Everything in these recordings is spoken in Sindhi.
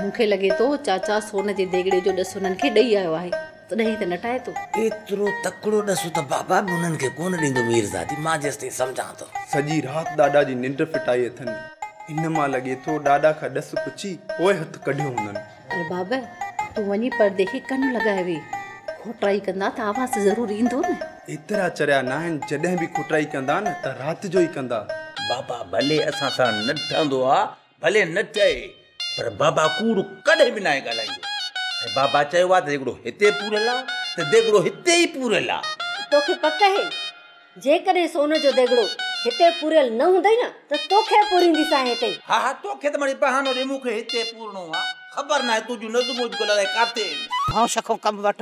مون کي لڳي ٿو چاچا سون جي ديڳڙي جو ڏس انهن کي ڏئي آيو آهي، تڏهن هي ته نه ٽائي ٿو. ايترو تڪڙو ڏس ته بابا به انهن کي ڪونه ڏيندو ميرزادي، مان جيستائين سمجهان ٿو. سڄي رات ڏاڏا جي ننڊ ڦٽائي اٿن. ان مان لڳي ٿو ڏاڏا کان ڏس پڇي پوء هٿ ڪڍيو هوندن. ارباب، تون وڃي پردي کي ڪن لڳائي ويهه. کوٽرائي ڪندا ته آواز ته ضرور ايندو نه. ايترا چريا ناهن، جڏهن به کوٽرائي ڪندا نه ته رات جو ئي ڪندا. بابا، ڀلي اسان سان نه ٺهندو آ، ڀلي نه چئي پر بابا ڪوڙ ڪڏهن به ناهي ڳالهائيندو ۽ بابا چيو آهي ته ديڳڙو هتي پوريل آهي ته ديڳڙو هتي ئي پوريل آهي. توکي پڪ اهي جيڪڏهن سون جو ديڳڙو هتي پوريل نه هوندئي نه ته توکي پورينديسانء هتي ئي. ها ها توکي ته مڙئي بهانو ڏي مون کي هتي پورڻو آهي خبر ناهي تنهنجون نظمون اڄڪلهه الائي ڪاٿي آهن. هائو شخو ڪم وٺ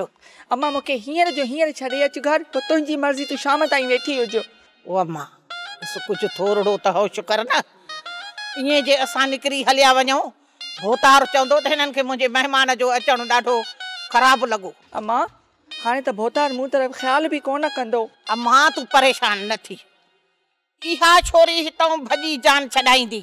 امان مون کي هينئر جو هينئر ڇڏي اچ گهر پوء تنهنجي مرضي تون شام تائين ويٺي هجو. او اما! بس ڪجهه ٿورڙو ته هوش ڪر نه. ائين جي اسان نڪري هليا وڃون، ڀوتار چوندو ته هنن کي منهنجي مهمان جو اچڻ ڏاڍو خراب لڳو. اما! هاڻي ته ڀوتار مون طرف خيال به ڪونه ڪندو. اما! تون پريشان نه ٿي. اها ڇوري هتئون ڀڄي جان ڇڏائيندي.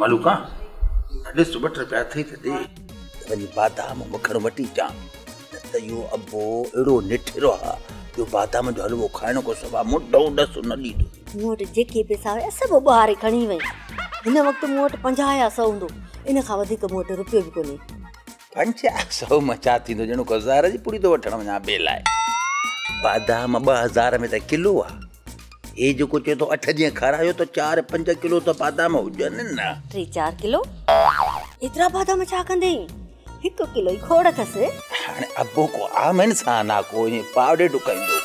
ملوڪا ڏس ته ٻه ٽي رپيا اٿئي ته ڏي. وڃي بادام مکڻ وٺي اچان. نه ته اهو ابو اهڙو نٺيرو آهي جو بادام جو حلوو کائڻ کان سواء منڍو ڏس نه ڏيندو. مون وٽ جيڪي پئسا هيا سڀ اٻهاري کڻي وئي. هن وقت مون وٽ پنجاهه يا سؤ هوندو. ان کان وڌيڪ مون وٽ رپيو به ڪونهي. پنجاهه سؤ مان ڇا ٿيندو ڄڻو ڪو زهر جي پڙي ٿو وٺڻ وڃان ٻي لاء. بادام ٻه هزار ۾ ته ڪلو آهي. هي جيڪو چئي ٿو اٺ جيئن کارايو ته چار پنج ڪلو ته بادام هجن نه. ٽي چار ڪلو؟ ايترا بادام ڇا ڪندين؟ هڪ ڪلو ئي کوڙ اٿس. هاڻي ابو ڪو عام انسان آ ڪو ائين پاڙي ڊڪائيندو.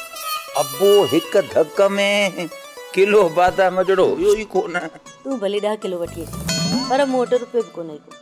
ابو هڪ ڌڪ ۾ ڪلو بادام جهڙو هيو ئي ڪونه. تون ڀلي ڏهه ڪلو وٺي اچ پر مون وٽ روپيو به ڪونه هي ڪو.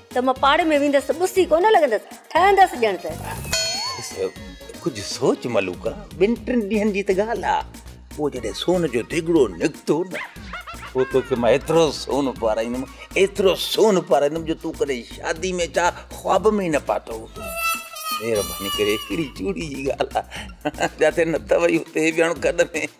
ته مان پاڙي ۾ ويندس ته ٻسي ڪونه لڳندس، ٺهندس ڄڻ ته. ڪجهه سوچ ملوڪا، ٻن ٽن ڏينهن جي ته ڳالهه آ، پوء جڏهن سون جو ديڳڙو نڪتو نه، پوء توکي مان ايترو سون پارائيندم، ايترو سون پارائيندم جو تون ڪڏهن شادي ۾ چاء خواب ۾ ئي نه پاتو هوندو. مهرباني ڪري ڪهڙي چوڙي جي ڳالهه آ، جتي نت وئي اتي هي ٻيڻو ڪڏ ۾.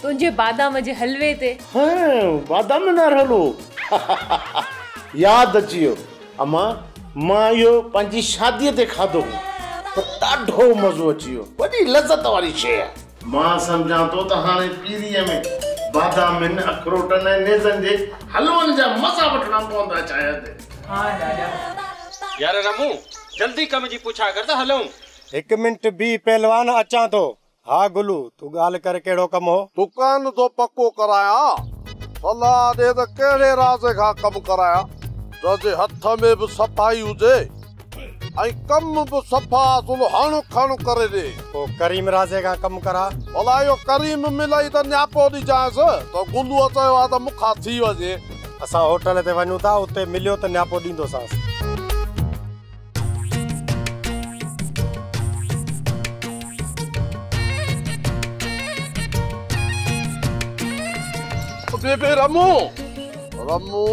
تنهنجي بادام جي حلوي تي. هه بادام نار حلوو هههه ياد اچي ويو اما مان اهو پنهنجي شادي تي کاڌو هو ته ڏاڍو مزو اچي ويو وڏي لذت واري شيء آهي. مان سمجهان ٿو ته هاڻي پيريء ۾ بادامن، اخروٽن ۽ نيزن جي حلون جا مزا وٺڻا پوندا شايد. ها ڏاڏا. يار رمون جلدي ڪم جي پڇا ڪر ته هلون. هڪ منٽ بيهه پهلوان اچان ٿو. ها گلو، تون ڳالهه ڪر ڪهڙو ڪم هو؟ دڪان ٿو پڪو ڪرايان، صلاح ڏي ته ڪهڙي رازي کان ڪم ڪرايان، جنهن جي هٿ ۾ به صفائي هجي ۽ ڪم به صفا اصل هڻ کڻ ڪري ڏي. پوء ڪريم رازي کان ڪم ڪراء. ڀلا اهو ڪريم ملئي ته نياپو ڏجانس، ته گلوء چيو آهي ته مون کان ٿي وڃي. اسان هوٽل تي وڃون ٿا، اتي مليو ته نياپو ڏيندوسانس. بيبي رمو رمو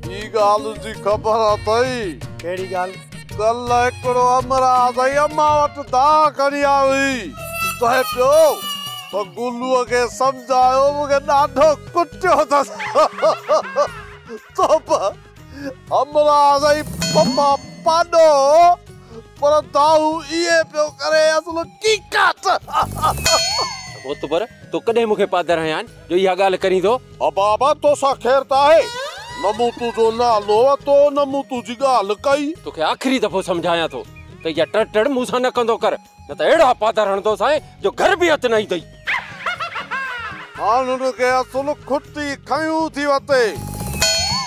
هي ڳالهه جي خبر اٿئي ڪهڙي ڳالهه ڪل هڪڙو امراض ۽ امان وٽ داء کڻي آيو هئي چوي پيو ته گلوء کي سمجهايو مون کي ڏاڍو ڪٽيو اٿس توبه همراز ۽ پپا پاڏو پر دائو اهي پيو ڪري اصل ڪيڪاٽ. هوت پر تو ڪڏهن مونکي پادر هنيان جو اها ڳالهه ڪرين ٿو. ابابا توسان خير ته آهي نه مون تنهنجو نالو ورتو نه مون تنهنجي ڳالهه ڪئي. توکي آخري دفعو سمجهايان ٿو ته اها ٽڙ ٽڙ مون سان نه ڪندو ڪر. نه ته اهڙا پاڌر هڻندوسانء جو گهر به هٿ نه ايندئي. هاڻ هن کي اصل کٽي کنيون ٿي وتي.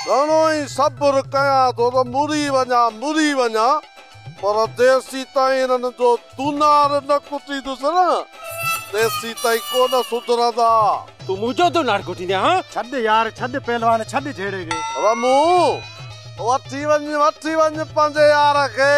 گهڻو ئي صبر ڪيان ٿو ته مري وڃان مري وڃان پر تيسيتائين هنن جو دونار نه ڪٽيندس نه تيسيتائين ڪونه سڌرندا. تون منهنجو دونار ڪٽيندين ها؟ ڇڏ يار ڇڏ پهلوان ڇڏ جهيڙي کي. رمون! وٺي وڃ وٺي وڃ پنهنجي يار کي.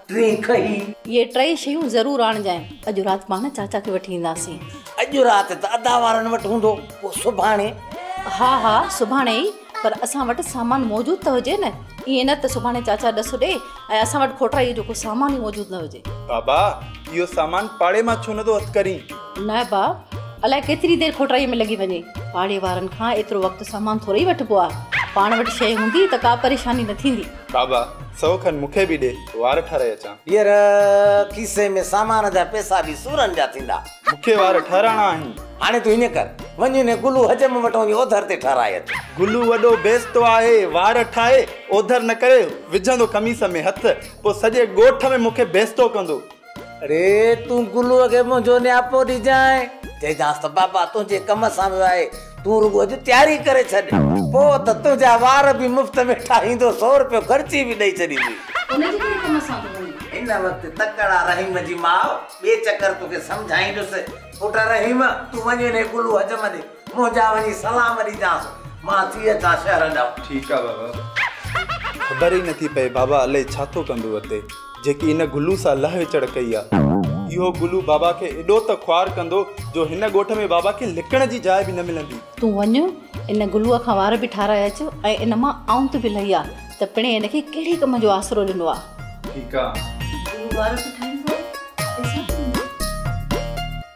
ٽين کهي. اهي ٽئي شيون ضرور آڻجانء. اڄ رات پاڻ چاچا کي وٺي اينداسين. اڄ رات ته ادا وارن وٽ هوندو، پوء سڀاڻي؟ ها ها سڀاڻي ئي، پر اسان وٽ سامان موجود ته هجي نه. ائين نه ته سڀاڻي چاچا ڏس ڏي ۽ اسان وٽ کوٽائيء جو ڪو سامان ئي موجود نه هجي. بابا اهو سامان پاڙي مان ڇو نٿو هٿ ڪرين؟ نه با، الائي ڪيتري دير کوٽائيء ۾ لڳي وڃي. پاڙي وارن کان ايترو وقت سامان ٿورئي وٺبو آهي. پاڻ وٽ شيء هوندي ته ڪا پريشاني نه ٿيندي. بابا سئو کن مون کي به ڏي وار ٺاهرائي اچان. ٻيهر کيسي ۾ سامان جا پئسا به سورن جا ٿيندا. مون کي وار ٺاهرائڻا آهن. هاڻي تون هيئن ڪر وڃ انهي گلو حجم وٽ وڃي اوڌر تي ٺاهرائي اچ. گلو وڏو بيستو آهي وار ٺاهي اوڌر نه ڪري وجهندو قميص ۾ هٿ پوء سڄي ڳوٺ ۾ مون کي بيستو ڪندو. اڙي تون گلوء کي منهنجو نياپو ڏجانء. چئجانس ته بابا تنهنجي ڪم سان ويو آهي، تون رڳو اڄ تياري ڪري ڇڏ، پوء ته تنهنجا وار به مفت ۾ ٺاهيندو، سؤ روپيو خرچي به ڏئي ڇڏيندين. ان جي ڪهڙي ڪم سان ٿو وڃين؟ هن وقت تڪڙا رحيم جي ماء ٻئي چڪر توکي سمجهائيندس. پٽ رحيم، تون وڃي انهيء گلوء حجم ڏي. مون جا وڃي سلام ڏيجانس مان ٿي اچان شهر ڏانهن. ٺيڪ آ بابا. خبر ئي نٿي پئي بابا الئي ڇا ٿو ڪندو اتي جيڪي ان گلو سان لهه وچڙ ڪئي آ. اهو گلو بابا کي ايڏو ته خوار ڪندو جو هن ڳوٺ ۾ بابا کي لڪڻ جي جاء به نه ملندي. تون وڃ ان گلوء کان وار به ٺاراهي اچ ۽ ان مان آنت به لهي آ ته پڻهين هن کي ڪهڙي ڪم جو آسرو ڏنو آ. ٺيڪ آ. گلو وار به ٺاهيندو ۽ پئسا به ڏيندو.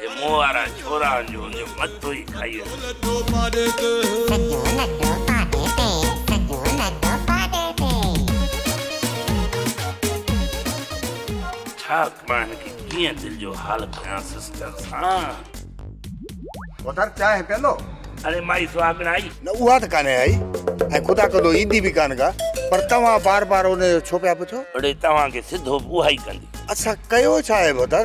جي منهن وارا ڇورا هن جو انجو مٿو ئي کائي ويندو. لڏو پاڏي تي. ڇا مان هن کي ڪيئن دل جو حال ڪيان سسٽر سان. پوٽر چانهه پيئندو. اڙي مائي سهاڳڻ آئي. نه اها ته ڪانهي آئي ۽ خدا ڪندو ايندي به ڪانه ڪا پر توهان بار بار ان جو ڇو پيا پڇو. اڙي توهان کي سڌو به اها ئي ڪندي. اسان ڪيو ڇا آهي ڀوتر.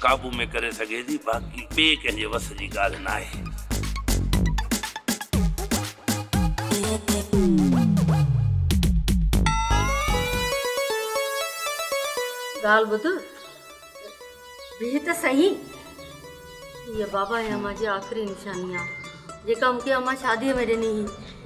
قابو ۾ ڪري سگهي ٿي باقي ٻئي ڪنهن جي وس جي ڳالهه ناهي. ڳالهه ٻڌ بيهه ته سهي هيء بابا هي امان جي آخري نشاني آ جيڪا مونکي امان شاديء ۾ ڏني هي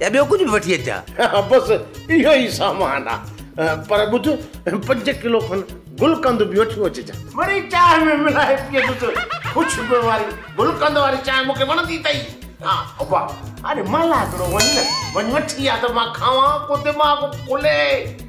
يا ٻيو ڪجهه به وٺي اچان؟ ها بس اهو ئي سامان آ. پر ٻڌ پنج ڪلو کن گلقند به وٺيون اچجان. مڙئي چانهه ۾ ملائي پيئجس. خوشبوء واري گلقند واري چانهه مون کي وڻندي اٿئي. ها ابا، اڙي ملا هڪڙو وڃ نه، وڃ وٺي آ ته مان کاوان ڪو دماغ کلي.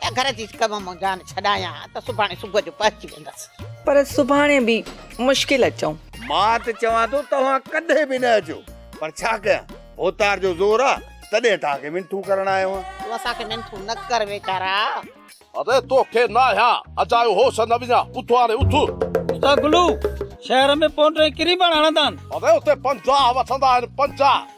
ته گهر جي ڪم مون جان ڇڏايان ته سڀاڻي صبح جو پهچي ويندس. پر سڀاڻي به مشڪل اچون. مان ته چوان ٿو توهان ڪڏهن به نه اچو پر ڇا ڪيان ڀوتار جو زور آ تڏهن توهان کي منٿون ڪرڻ آيو آهيان. تون اسان کي منٿون نه ڪر ويچارا. اڙي توکي ناهيان اجايو هوس نه وڃان اٿ هاڻي اٿ. اتان گلو شهر ۾ پونٽرين ڪري پاڻ هڻندان. اڙي اتي پنجاهه وٺندا آهن پنجاهه.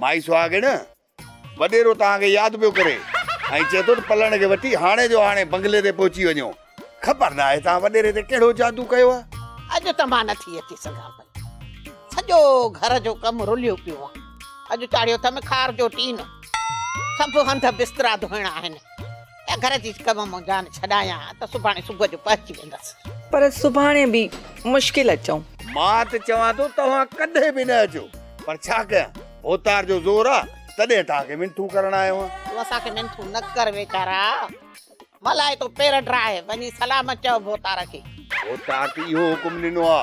مائي سهاڳڻ، وڏيرو توهان کي ياد پيو ڪري ۽ چئي ٿو ته پلڻ کي وٺي هاڻي جو هاڻي بنگلي تي پهچي وڃو. خبر ناهي توهان وڏيري تي ڪهڙو جادو ڪيو آهي. اڄ ته مان نٿي اچي سگهان پئي. سڄو گهر جو ڪم رليو پيو آهي. اڄ چاڙهيو اٿم کار جو ٽين. سڀ هنڌ بسترا ڌوئڻا آهن. ته گهر جي ڪم مون جان ڇڏايان ته سڀاڻي صبح جو پهچي ويندس. پر سڀاڻي به مشڪل اچون. مان ته چوان ٿو توهان ڪڏهن به نه اچو پر ڇا ڪيان ڀوتار جو زور آ تڏهن توهان کي منٿون ڪرڻ آيو آهيان. تون اسان کي منٿون نه ڪر ويچارا ملائي تو پير ڊراهي وڃي سلامت چئو ڀوتار کي. ڀوتار ته اهو حڪم ڏنو آ.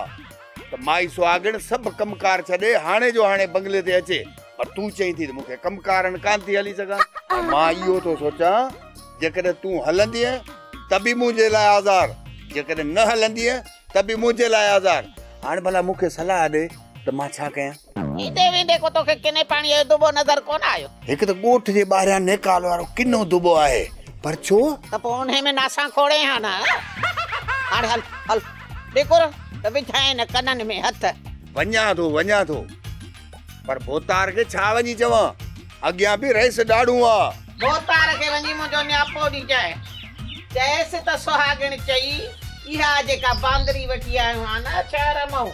ته مائي سهاڳڻ سڀ ڪم ڪار ڇڏي هاڻي جو هاڻي بنگلي تي اچي پر تون چئين ٿي ته مون کي ڪم ڪارن ڪان ٿي هلي سگهان ۽ مان اهو ٿو سوچان جيڪڏهن تون هلندينء ته به منهنجي لاء آزار جيڪڏهن نه هلندينء ته به منهنجي لاء آزار هاڻي ڀلا مون کي صلاح ڏي ته مان ڇا ڪيان ايندي ويندي ڪو توکي ڪني پاڻيء جو دٻو نظر ڪونه آيو؟ هڪ ته ڳوٺ جي ٻاهريان نيڪال وارو ڪنو دٻو آهي، پر ڇو؟ ته پوء انهيء ۾ ناسان کوڙين ها نه؟ هاڻي هل، هل، ڏيکور ته وجهائين ڪنن ۾ هٿ. وڃان ٿو، وڃان ٿو، پر ڀوتار کي ڇا وڃي چوان؟ اڳيان به رئيس ڏاڙهون آ. ڀوتار کي وڃي منهنجو نياپو ڏجانء. چيس ته سهاڳڻ چئي، اها جيڪا باندري وٺي آيو ها نه، ڇهه رمئون.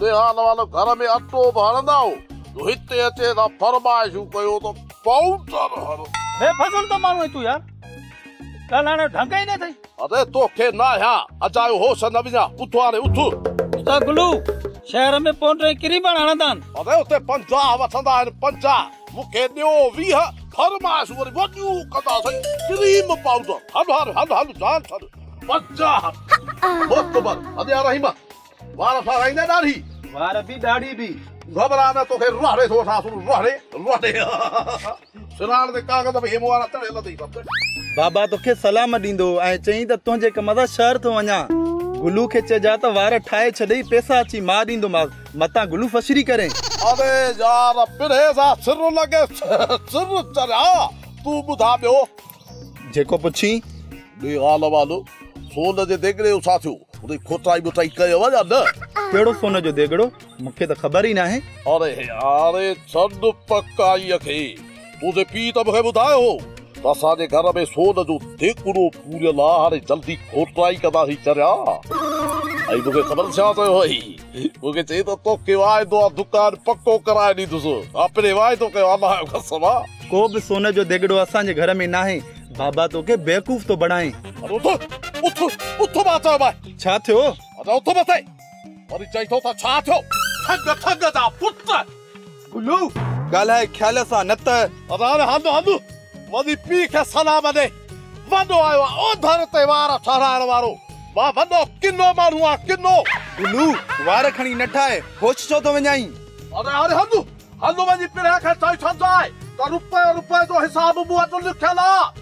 نهال والو گهر ۾ اٽو به هڻندا هو جو هتي اچي اسان فرمائشون ڪيون ته ڪائونٽر هڻ. بي فضل ته ماڻهو آهين تون يار. ڳالهائڻ جو ڍنگ ئي نه اٿئي. اڙي توکي ناهيان اجايو هوش نه وڃان اٿ هاڻي اٿ. ادا گلو شهر ۾ پونڊ ۽ ڪريمڻ هڻندا آهن. اڙي اتي پنجاهه وٺندا آهن پنجاهه. مون کي ڏيو ويهه فرمائشون وري وڏيون ڪندا سائين ڪريم پائوڊر هل هاڻي هل هل جان ڇڏ. پنجاهه موتبر اڙي يا رحيما. وار سارائيندي ڏاڙهي. وار به ڏاڙهي به. گهٻرا نه توکي روهڙي ٿو وٺان سون روهڙي روهڙي. سراڻ تي ڪاغذ به هيم وارا تڙيل اٿئي سڀ ڳڏ. بابا توکي سلام ڏيندو ۽ چئين ته تنهنجي ڪم سان شهر ٿو وڃان. گلو کي چئجان ته وار ٺاهي ڇڏئي پئسا اچي مان ڏيندومانس متان گلو فشري ڪرين. اڙي يار پرهيز آ سر لڳي سر چريا تون ٻڌاء ٻيو. جيڪو پڇين، ڏي غالب آلو، سون جي ديڳڙي جو ڇا ٿيو؟ ان جي کوٽائي ٻوٽائي ڪيئو يا نه؟ ڪهڙو سون جو ديڳڙو؟ مون کي ته خبر ئي ناهي. اڙي هاڻي ڇڏ پڪائيء کي. تنهنجي پيء ته مون کي ٻڌايو هو ته اسان جي گهر ۾ سون جو ديڳڙو پوريل آ، هاڻي جلدي کوٽائي ڪنداسين چريا. ۽ مون کي خبر ڇا پيو هئي؟ مون کي چئي ته توکي واعدو آ دڪان پڪو ڪرائي ڏيندس. آء پھرين واعدو ڪيو آ ناهيو قسم آ. ڪو به سون جو ديڳڙو اسان جي گهر ۾ ناهي. بابا توکي بيوقوف ٿو بڻائين. اري اٿ اٿ اٿ مان چيومانء. ڇا ٿيو؟ اچ اٿ مٿي. وري چئي ٿو ته ڇا ٿيو. ٺڳ ٺڳ جا پٽ. گلو، ڳالهائي خيال سان نه ته. راڻي هنڌ هنڌ وڌي پيء کي سلام ڏئي، وڏو آيو آ اوڌر تي وار ٺهرائڻ وارو، مان وڏو ڪنو ماڻهو آ ڪنو. گلو، وار کڻي نه ٺاهه، هوش ڇو ٿو وڃائين. راڻي هنڌ هنڌ وڃي پرينء کي چئي ڇڏجانء ته روپيه روپيه جو حساب مون وٽ لکيل آ،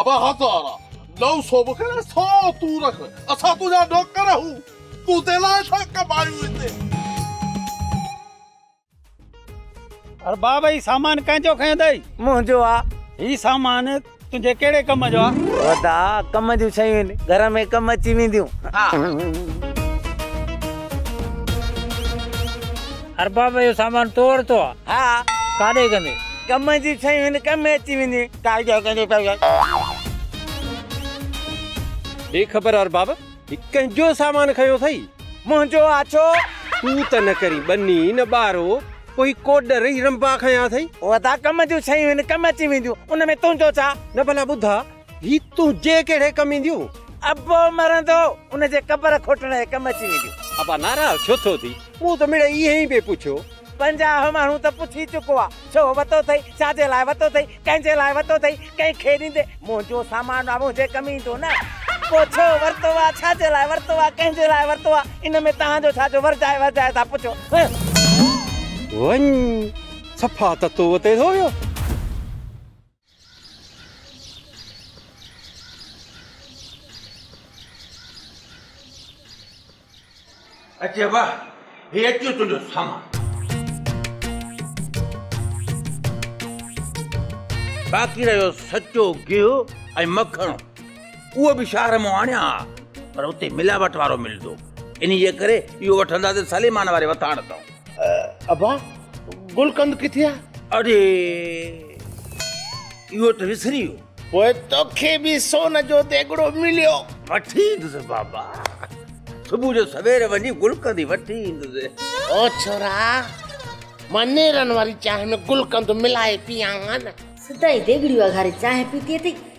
ابا هزارا نو سو مون کي ڏي سو تون رک اسان تنهنجا نوڪر آهيون تون تي لاء ڇا ڪمايون هتي. ارباب هي سامان ڪنهن جو کنيو اٿئي. منهنجو آ. هي سامان تنهنجي ڪهڙي ڪم جو آ. ودا ڪم جون شيون آهن گهر ۾ ڪم اچي وينديون آ. ارباب اهو سامان تو ورتو آ. ها. ڪاڏي ڪندي. ڪم جون شيون آهن ڪم ۾ اچي وينديون. ٽائي ڏي ڪنهن جي پئي آهي. بي خبر ارباب هي ڪنهن جو سامان کنيو اٿئي. منهنجو آ ڇو؟ تون ته نه ڪرين ٻني نه ٻارو پوء هي ڪوڏر هي رنبا کنيا اٿئي. اهي ته ڪم جون شيون آهن ڪم اچي وينديون ان ۾ تنهنجو ڇا؟ نه ڀلا ٻڌاء هي تنهنجي ڪهڙي ڪم اينديون. ابو مرندو ان جي قبر کوٽڻ جي ڪم اچي وينديون. ابا ناراض ڇو ٿو ٿي. مون ته مڙئي ائين به پڇيو. پنجاهه ماڻهو ته پڇي چڪو آ. ڇو وتو ٿئي؟ ڇا جي لاء وتو ٿئي؟ ڪنهن جي لاء وتو ٿئي؟ ڪنهن کي ڏيندي؟ منهنجو سامان آ، منهنجي ڪم ايندو نه. پوء ڇو ورتو آ؟ ڇا جي لاء ورتو آ؟ ڪنهن جي لاء ورتو آ؟ ان ۾ توهان جو ڇا جو ورجائي ورجائي ٿا پڇو؟ هه. وڃ، صفا ته تو وتي ٿو ويو. اچي واه هي اچيو تنهنجو سامان باقي رهيو سچو گيهو ۽ مکڻ اهو به شهر مون آڻيا ها پر اتي ملاوٽ وارو ملندو انهيء ڪري اهو وٺنداسين سليمان واري وٿاڻ تان ابا گلقند ڪٿي آ؟ اڙي اهو ته وسري ويو. پوء توکي به سون جو ديڳڙو مليو. وٺي ايندس بابا. صبح جو سوير وڃي گلقند ئي وٺي ايندس. او ڇورا مان نيرن واري چانهه ۾ گلقند ملائي پيئان ها نه. سدائين ديڳڙيون اگهاري چانهه پيتي اٿئي.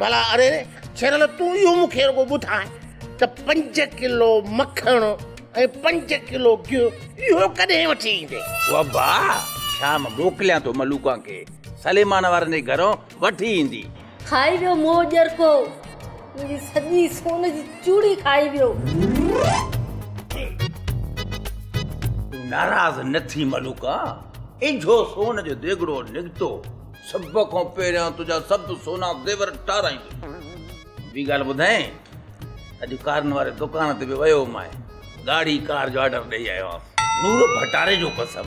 ڀلا اري ڇيرل تون اهو مون کي رڳو ٻڌاء ته پنج ڪلو مکڻ ۽ پنج ڪلو گيهو اهو ڪڏهن وٺي ايندي وبا شام موڪليان ٿو ملوڪان کي سليمان وارن جي گهرون وٺي ايندي. کائي ويو مون جو ڄرڪو منهنجي سڄي سون جي چوڙي کائي ويو. تون ناراض نه ٿي ملوڪان اجهو سون جو ديڳڙو نڪتو. سڀ کان پهريان تنهنجا سڀ سونا زيور ٽارايندس. ٻي ڳالهه ٻڌايئي ته اڄ ڪارن واري دڪان تي به ويو هئمانء، ڳاڙهي ڪار جو آرڊر ڏيئي آيو آهيان. نور ڀٽاري جو قسم،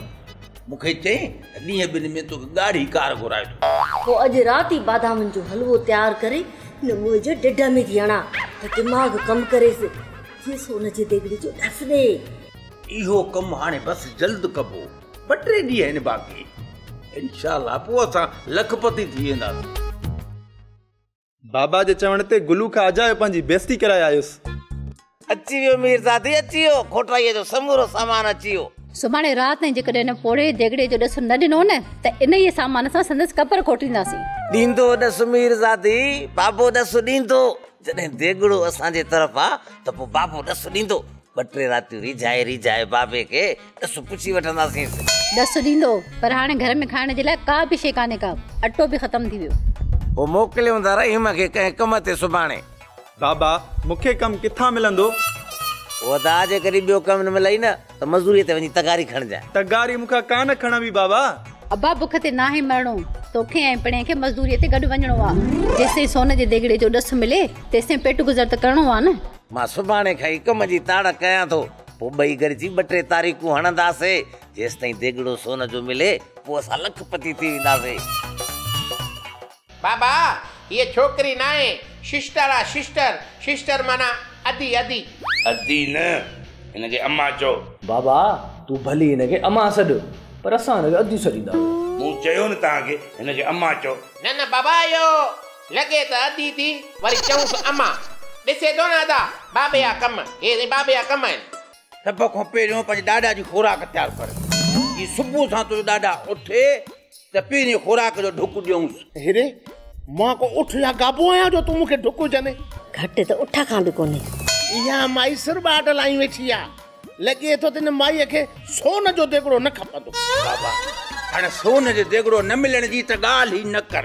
مون کي چيائين ته ڏينهن ٻن ۾ توکي ڳاڙهي ڪار گهرائي ٿو. پوء اڄ رات ئي بادامن جو حلوو تيار ڪري هن موهي جي ڍڍ ۾ ٿي هڻان ته دماغ ڪم ڪريس، ٿيس هن جي ديڳڙي جو ڍس ڏي. اهو ڪم هاڻي بس جلد ڪبو. ٻه ٽي ڏينهن آهن باقي انشاء الله پوء اسان لک پتي ٿي وينداسين. بابا جي چوڻ تي گلو کان اجايو پنهنجي بيستي ڪرائي آيس. اچي ويو ميرزادي اچي ويو کوٽائيء جو سمورو سامان اچي ويو. سڀاڻي رات تائين جيڪڏهن هن پوڙهي ديڳڙي جو ڏس نه ڏنو نه ته انهيء سامان سان سندس قبر کوٽينداسين. ڏيندو ڏس ميرزادي، بابو ڏس ڏيندو. جڏهن ديڳڙو اسان جي طرف آ ته پوء بابو ڏس ڏيندو. ٻه ٽي راتيون ريجهائي ريجهائي بابي کي ڏس پڇي وٺنداسينس. ڏس ڏيندو پر هاڻي گهر ۾ کائڻ جي لاء ڪا به شيء ڪانهي ڪا. اٽو به ختم ٿي ويو. پوء موڪليون ٿا رحيم کي ڪنهن ڪم تي سڀاڻي. بابا مون کي ڪم ڪٿان ملندو؟ ادا جي ڪڏهن ٻيو ڪم نه ملئي نه. ته مزوريء تي وڃي تغاري کڻجانء. تغاري مون کان ڪانه کڻبي بابا! ابا بک تي ناهي مرڻو. توکي ۽ پڻهين کي مزوريء تي گڏ وڃڻو آ. جيستائين سون جي ديڳڙي جو ڏس ملي، تيستائين پيٽ گذر ته ڪرڻو آ نه. مان سڀاڻي کان ئي ڪم جي تاڙ ڪيان ٿو. پوء ٻئي گڏجي ٻه ٽي تاريخون هڻنداسي. جيستائين ديڳڙو سون جو ملي، پوء اسان لک پتي ٿي وينداسي. بابا هيء ڇوڪري ناهي ششٽر آ ششٽر ششٽر معنيٰ ادي ادي. ادي نه هن کي امان چئو. بابا تون ڀلي هن کي امان سڏ پر اسان هن کي ادي سڏيندا آهيون. مون چيو نه توهان کي هن کي امان چئو. نه نه بابا اهو لڳي ته ادي ٿي وري چئونس امان ڏسي ٿو نه ادا بابي جا ڪم هي سائين بابي جا ڪم آهن. سڀ کان پهريون پنهنجي ڏاڏا جي خوراڪ تيار ڪر. جي صبح سان تنهنجو ڏاڏا اٿي ته پهرين خوراڪ جو ڍڪ ڏيونس. هيري، مان ڪو اٺ يا گابو آهيان جو تون مون کي ڍڪ وجهندين. گهٽ ته اٺ کان به ڪونهي. اها مائي سر ٻاٽ لائي ويٺي آهي. لڳي ٿو ته هن مائيء کي سون جو ديڳڙو نه کپندو. بابا، هاڻ سون جو ديڳڙو نه ملڻ جي ته ڳالهه ئي نه ڪر.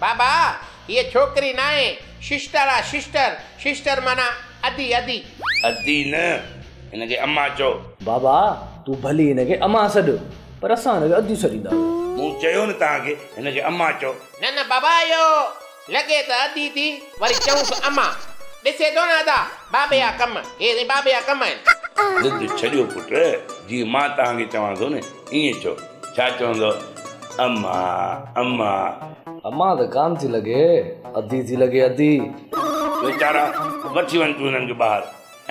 بابا، هيء ڇوڪري ناهي، ششٽر آ ششٽر، ششٽر معنيٰ ادي ادي. ادي نه، هن کي امان چئو. بابا، تون ڀلي هن کي امان سڏ، پر اسان هن کي ادي سڏيندا آهيون. مون چيو نه توهان کي، هن کي امان چئو. نه نه بابا، اهو لڳي ته ادي ٿي، وري چئونس امان. ڏسي ٿو نه ادا، بابي جا ڪم، هي سائين بابي جا ڪم آهن. ضد ڇڏيو پٽ، جيئن مان توهان کي چوان ٿو نه، ائين چئو. ڇا چوندو اما اما. اما ته ڪان ٿي لڳي ادي ٿي لڳي ادي. ويچارا وٺي وڃ تون هنن کي ٻاهر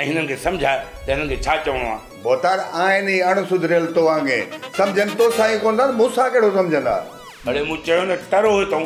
۽ هنن کي سمجهاء ته هنن کي ڇا چوڻو آ. ڀوتار آهن ئي اڻ سڌريل توانگي سمجهن توسان ئي ڪونه ٿا ته مون سان ڪهڙو سمجهندا. اڙي مون چيو نه ٽرو هتئون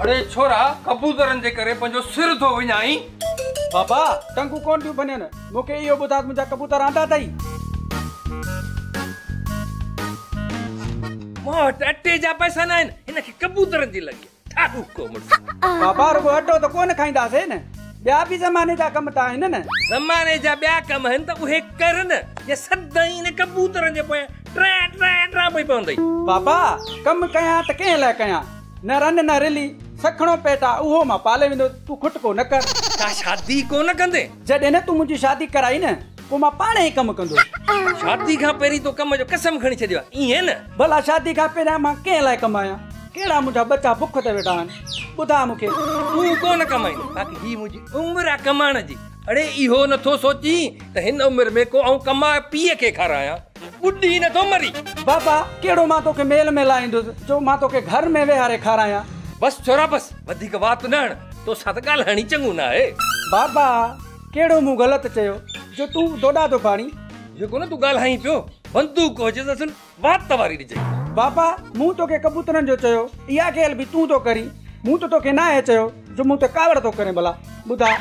اڙي ڇورا ڪبوترن جي ڪري پنهنجو سر ٿو وڃائين. بابا ٽنگون ڪونه ٿيون ڀڃن مون کي اهو ٻڌاء ته منهنجا ڪبوتر آندا اٿئي؟ مون وٽ اٽي جا پئسا ناهن هن کي ڪبوترن جي لڳي. ٺاڏوڪو مڙس. بابا رڳو اٽو ته ڪونه کائينداسين نه ٻيا به زماني جا ڪم ته آهن نه. زماني جا ٻيا ڪم آهن ته اهي ڪر نه جي سدائين انهن ڪبوترن جي پويان ٽران ٽران ٽران پئي پوندئي. بابا ڪم ڪيان ته ڪنهن لاء ڪيان نه رن نه رلي سکڻو پيٽ آ اهو مان پالي ويندوس تون کٽڪو نه ڪر. ڇا شادي ڪونه ڪندين. جڏهن نه تون منهنجي شادي ڪرائي نه. پوء مان پاڻ هي ڪم ڪندو. شادي کان پهرين تو ڪم جو قسم کڻي ڇڏيو آهي، ائين نه؟ ڀلا شادي کان پهريان مان ڪنهن لاء ڪمايان؟ ڪهڙا منهنجا ٻچا بک تي ويٺا آهن؟ ٻڌاء مون کي. تون ڪونه ڪمائيندين، باقي هي منهنجي عمر آهي ڪمائڻ جي. اڙي اهو نه ٿو سوچين ته هن عمر ۾ ڪو آئون ڪمائي پيء کي کارايان. ٻڏي نه ٿو مرين. بابا، ڪهڙو مان توکي ميل ۾ لائيندس جو مان توکي گهر ۾ ويهاري کارايان. بس ڇورا بس، وڌيڪ وات نه هڻ، توسان ته ڳالهائڻ ئي چڱو نه آهي. بابا! ڪهڙو مون غلط چيو جو تون دوڏا ٿو ڦاڙين؟ جيڪو نه تون ڳالهائين پيو، بندوق هجيس اصل وات واري ڏجئي. بابا مون توکي ڪبوترن جو چيو، اها کيل به تون ٿو ڪرين، مون ته توکي ناهي چيو جو مون تي ڪاوڙ ٿو ڪرين ڀلا ٻڌاء،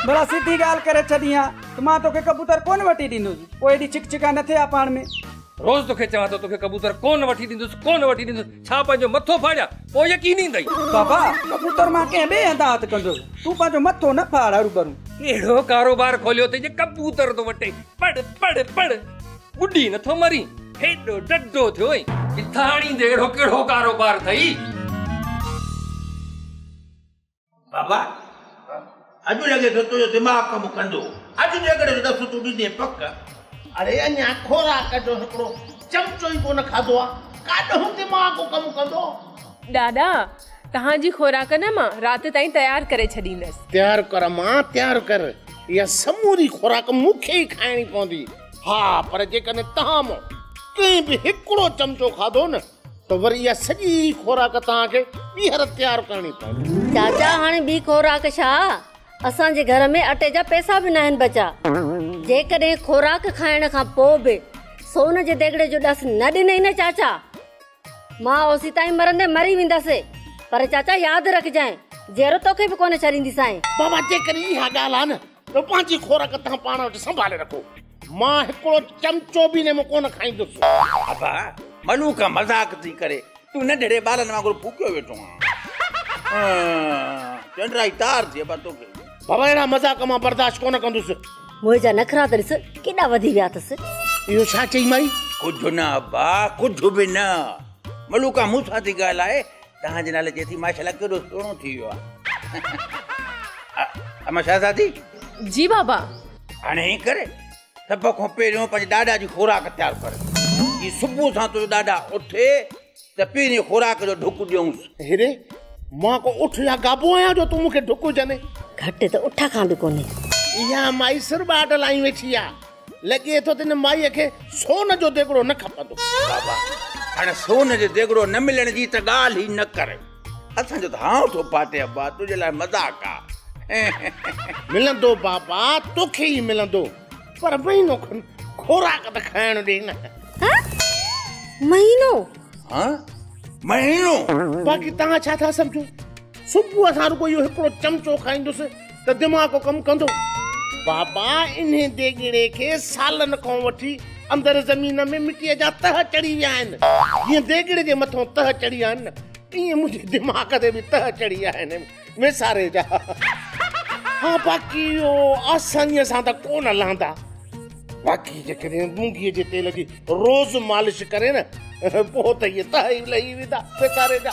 ڀلا سڌي ڳالهه ڪري ڇڏين ها ته مان توکي ڪبوتر ڪونه وٺي ڏيندس، پوء ايڏي ڇڪ ڇڪان نه ٿي ها پاڻ ۾. روز توکي چوان ٿو توکي ڪبوتر ڪو نه وٺي ڏيندس ڪو نه وٺي ڏيندس ڇا پنهنجو مٿو ڦاڙيان پوء يقين ايندئي. بابا ڪبوتر مان ڪنهن ٻئي هنڌ هٿ ڪندس تون پنهنجو مٿو نه ڦاڙ هروڀرو. ڪهڙو ڪاروبار کوليو اٿئي جو ڪبوتر ٿو وٺين پڙ پڙ پڙ ٻڏي نٿو مرين هيڏو ڊڍو ٿيو ۽ ڪٿان آڻيندين اهڙو ڪهڙو ڪاروبار اٿئي. بابا! اڄ لڳي ٿو تنهنجو دماغ ڪم ڪندو. اڄ جيڪڏهن هن دفعو تون ڏيندين پڪ. اڙي اڃا خوراڪ جو هڪڙو چمچو ئي ڪونه کاڌو آ، ڪاڏهن دماغ ڪم ڪندو. ڏاڏا! توهان جي خوراڪ نه مان رات تائين تيار ڪري ڇڏيندس. تيار ڪر امان تيار ڪر. اها سموري خوراڪ مون کي ئي کائڻي پوندي. ها پر جيڪڏهن توهان مان ڪنهن به هڪڙو چمچو کاڌو نه. ته وري اها سڄي خوراڪ توهان کي ٻيهر تيار ڪرڻي پوندي. چاچا هاڻي ٻي خوراڪ ڇا؟ اسان جي گهر ۾ اٽي جا پئسا به ناهن بچا. جيڪڏهن خوراڪ کائڻ کان پوء به سون جي ديڳڙي جو ڏس نه ڏنئي نه چاچا، مان اوسيتائين مرندي مري ويندس. پر چاچا ياد رکجانء، جيئرو توکي به ڪونه ڇڏينديسانء. بابا جيڪڏهن اها ڳالهه آ نه ته پنهنجي خورڪ توهان پاڻ وٽ سنڀالي رکو. مان هڪڙو چمچو به نيمو ڪونه کائيندس. ابا، ملوڪ مذاق ٿي ڪري. تون ننڍڙي ٻارن وانگر ڦوڪيو ويٺو آهين. چنڊرائي تار ٿي ابا توکي. بابا اهڙا مذاق مان برداشت ڪونه ڪندس. موهي جا نخرا ته ڏس ڪيڏا وڌي ويا اٿس. اهو ڇا چئي مائي؟ ڪجهه نه ابا، ڪجهه به نه. ملوڪ مون سان ٿي ڳالهائي توهان جي نالي چئي ٿي ماشاء الله ڪيڏو سهڻو ٿي ويو آ اما شهزادي جي بابا هاڻي هي ڪري سڀ کان پهريون پنهنجي ڏاڏا جي خوراڪ تيار ڪر جي صبح سان تنهنجو ڏاڏا اٿي ته پهرين خوراڪ جو ڍڪ ڏيونس هيري مان ڪو اٺ يا گابو آهيان جو تون مونکي ڍڪ وجهندين گهٽ ته اٺ کان به ڪونهي اها مائي سر ٻاٽ لائي ويٺي آ لڳي ٿو ته ان مائيء کي سون جو ديڳڙو نه کپندو. بابا، هاڻ سون جو ديڳڙو نه ملڻ جي ته ڳالهه ئي نه ڪر. اسان جو ته هانء ٿو ڦاٽي ابا، تنهنجي لاء مذاق آ. ملندو بابا، توکي ئي ملندو. پر مهينو کن خوراڪ ته کائڻ ڏي نه. هه؟ مهينو؟ هه؟ مهينو؟ باقي توهان ڇا ٿا سمجهو؟ صبح سان رڳو اهو هڪڙو چمچو کائيندس. ته دماغ ڪم ڪندو. بابا انهي ديڳڙي کي سالن کان وٺي اندر زمين ۾ مٽيء جا تهه چڙهي ويا آهن. جيئن ديڳڙي جي مٿان تهه چڙهي آهن نه ايئن منهنجي دماغ تي به تهه چڙهي آهن ويساري جا. ها باقي اهو آسانيء سان ته ڪو نه لهندا. باقي جيڪڏهن مونگيء جي تيل جي روز مالش ڪرين نه پوء ته اهي تهه ئي لهي ويندا ويساري جا.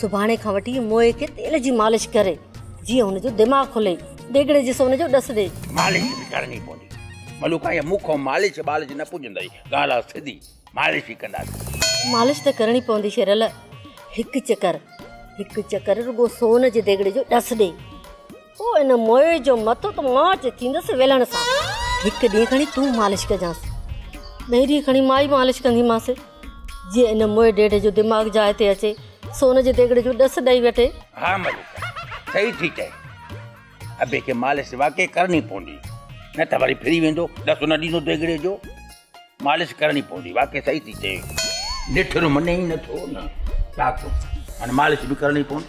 سڀاڻي کان وٺي موئي کي تيل جي مالش ڪري جيئن هن جو دماغ کلي ڊيگهڙي جي سون جو ڏس ڏي. مالش به ڪرڻي پوندي ملوڪا هيء مون کان مالش ٻالش نه پڇندئي ڳالهه سڌي مالش ئي ڪنداسين. مالش ته ڪرڻي پوندي شيرل هڪ چڪر هڪ چڪر رڳو سون جي ديگهڙي جو ڏس ڏي. او ان موئي جو مٿو ته مان اچي ٿيندس ويلڻ سان. هڪ ڏينهن کڻي تون مالش ڪجانس. ٻئي ڏينهن کڻي مان ئي مالش ڪنديمانس. جيئن ان موئي ڊيڊي جو دماغ جاء تي اچي، سو ان جي ديڳڙي جو ڏس ڏئي وٺي. ها مليڪا، صحيح ٿي چئين. ابي کي مالش واقعي ڪرڻي پوندي. نه ته وري ڦري ويندو، ڏس نه ڏيندو ديڳڙي جو. مالش ڪرڻي پوندي، واقعي صحيح ٿي چئين. نيٺر مڃي ئي نٿو نه. ڊاڪٽر، هاڻي مالش به ڪرڻي پوندي.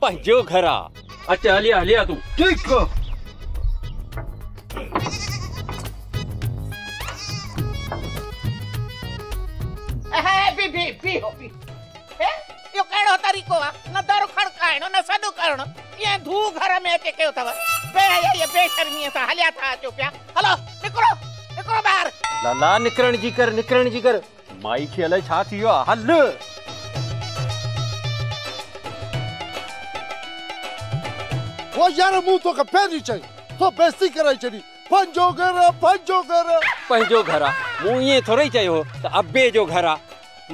پنهنجو گهر آ. اچ هلي آ هلي آ تون. ٺيڪ آ. بي بي بيهو بيهو. هي اهو ڪهڙو طريقو آ. نه در کڙڪائڻ نه سڏ ڪرڻ. ڪيئن ڌو گهر ۾ اچي ڪيو اٿئو. بي حيائي بي شرميء سان هليا ٿا اچو پيا. هلو نڪرو نڪرو ٻاهر. لالا نڪرڻ جي ڪر نڪرڻ جي ڪر. مائي کي الائي ڇا ٿي ويو آ هل. هو يار مون توکي پهرين چئي هو بيستي ڪرائي ڇڏي پنهنجو گهر آ پنهنجو گهر آ. پنهنجو گهر آ مون ائين ٿورئي چيو هو ته ابي جو گهر آ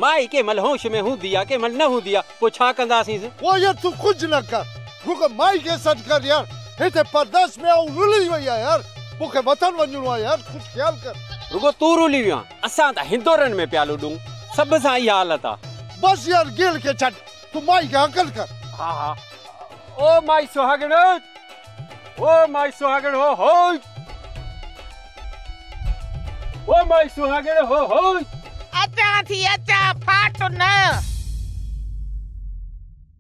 مائي ڪنهن مهل هوش ۾ هوندي آ ڪنهن مهل نه هوندي آ پوء ڇا ڪنداسينس. هو يار تون ڪجهه نه ڪر رڳو مائي کي سڏ ڪر يار هتي پرديس ۾ آئون رلي وئي آ يار مونکي وطن وڃڻو آ يار ڪجهه خيال ڪر. رڳو تون رلي ويو آ اسان ته هندورن ۾ پيا لڏون. سڀ سان اها حالت آ. بس يار گيل کي ڇڏ تون مائي کي هڪل ڪر. ها ها او مائي سهاڳڻ او مائي سهاڳڻ هو هوئي او مائي سهاڳڻ هو هوئي. اچان ٿي اچان ڦاٽ نه.